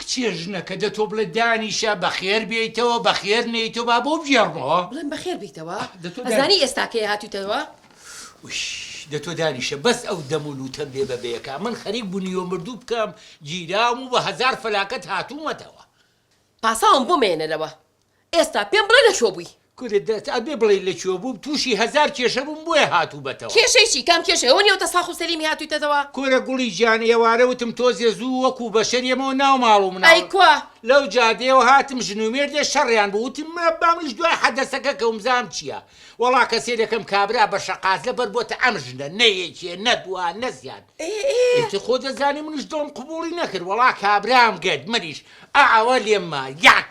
کچێ ژنەکە دە تۆ بڵێ دانیشە بەخێر بێیتەوە بەخێر نێیتۆ با بۆ بگێڕمەوە. بڵێم بەخێر بیتەوە؟ ئەزانی ئێستا کێ هاتویتەوە؟ ویش، دە تۆ دانیشە بەس ئەو دەم و لوتە بێ بە بەیەکە من خەریک بونیوە مردوو بکەم گیراوم و بە هەزار فەلاکەت هاتومەتەوە. پاساوم بۆ مەیەنە لەوە ئێستا پێم بڵێ لە کوێ بووی؟ کورە دەت ئەبێ بڵێی لە کوێ بووم تووشی هەزار کێشە بووم بۆیە هاتووبەتەوە. کێشەی چی؟ کام کێشە؟ ئەوە نییە وتە ساخ و سەلیمی هاتوویتەتەوە؟ کورە گوڵی گیان ئێوارە وتم تۆزێ زوو وەکوو بەشەر یەمەوە ناو ماڵ و مناڵ ئەی کوا؟ لەو جادەیەوە هاتم ژن و مێردێ شەڕیان بوو وتم مرەبا منیش دوای حەدەسەکە کەوم بزانم چییە وەڵا کە سەیرەکەم کابرا بە شەقاز لە بەر بۆتە ئەم ژنە نە یەکێ نە دوا نە زیاد ئیتر خۆ دەزانی منیش دڵم قبووڵی نەکرد وەڵا کابرام گرت منیش ئەعەوە لێم ما یەک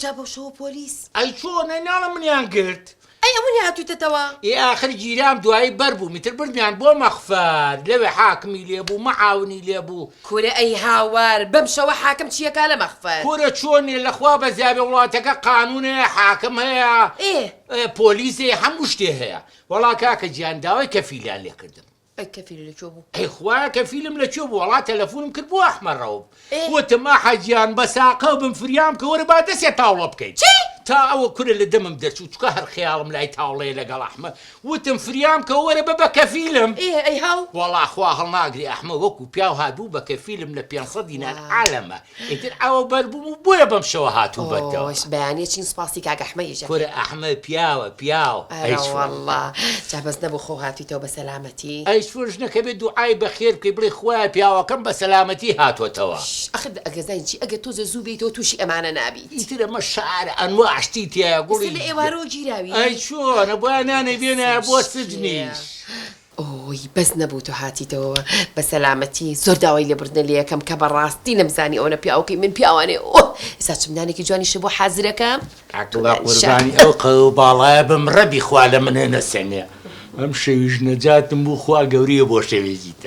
جا بۆ شەوە پۆلیس. ئەی چۆن ئەی ناڵە منیان گرت. ئەی ئەونی هاتویتەتەوە. ئێ ئاخر گیرام دوایی بەر بووم ئیتر بردمیان بۆ مەخفەر لەوێ حاکمی لێ بوو مەعاونی لێ بوو. کورە ئەی هاوار بەم شەوە حاکم چی ئەکا لە مەخفەر. کورە چۆن نیە لە خوا بەزیابێ وڵاتەکە قانون هەیە حاکم هەیە ئێ. پۆلیس هەیە هەموو شتێ هەیە. وەڵا کاکە جیان داوای کەفیلیان لێ کردم. ئەی کەفیل لەکوێ بوو؟ ئەی خوایە کەفیلم لەکوێ بوو وەڵا تەلەفونم کرد بۆ ئەحمە ڕەوف وتم ئەحە گیان بە ساقە بم فریام بکە وەرە با دەسێ تاوڵە بکەین تا ئەوە کورە لە دەمم دەرچوو چکە هەر خەیاڵم لای تاوڵەیە لەگەڵ ئەحمە وتم فریام بکە وەرە بە بە کەفیلم وەڵا خوا هەڵناگری ئەحمە وەکو پیاو هات بوو بە کەفیلم لە پێنج سەد دینار عالەمە ئیتر ئەوە بەر بووم و بۆیە بەم شەوە هاتووم بەرتەوە. ئۆش بەیانیە چین سوپاسی کاک ئەحمەدیش ئەکەین. کورە ئەحمەد پیاوە پیاو. ئەرەوەڵڵا جا بەس نەبوو خۆو هاتوویتەوە بە سەلامەتی. ئەی چۆن ژنەکە بێ دوعای بەخێر بکەی بڵێی خوایە پیاوەکەم بە سەلامەتی هاتۆتەوە. شش ئەخ دە ئەگەر زانی چی ئەگەر تۆزێ زوو بێیتەوە تووشی ئەمانە نابیت. ئیتر ئەمە شارە ئەنواع شتی تیایە گوڵی. ئێستا لە ئێوارەوە گیراوی. ئەی چۆن بۆیە نانەی بێنایە بۆ سجنیش. ئۆۆی بەس نەبوو تۆ هاتیتەوە بە سەلامەتی زۆر داوای لێبوردنە لێیەکەم کە بە ڕاستی نەمزانی ئەوەنە پیاوەکەی من پیاوانێ ئۆ ئێستا چ منالێکی جوانی شبوو حازرەکەم تۆ عەقڵە دانیشە. قوربانی ئەو قەوەو باڵایە بم ڕەبی خوا لە منێ نەسەنێ ئەم شەویش نەجاتم بوو خوا گەوریە بۆ شەوێکی تر.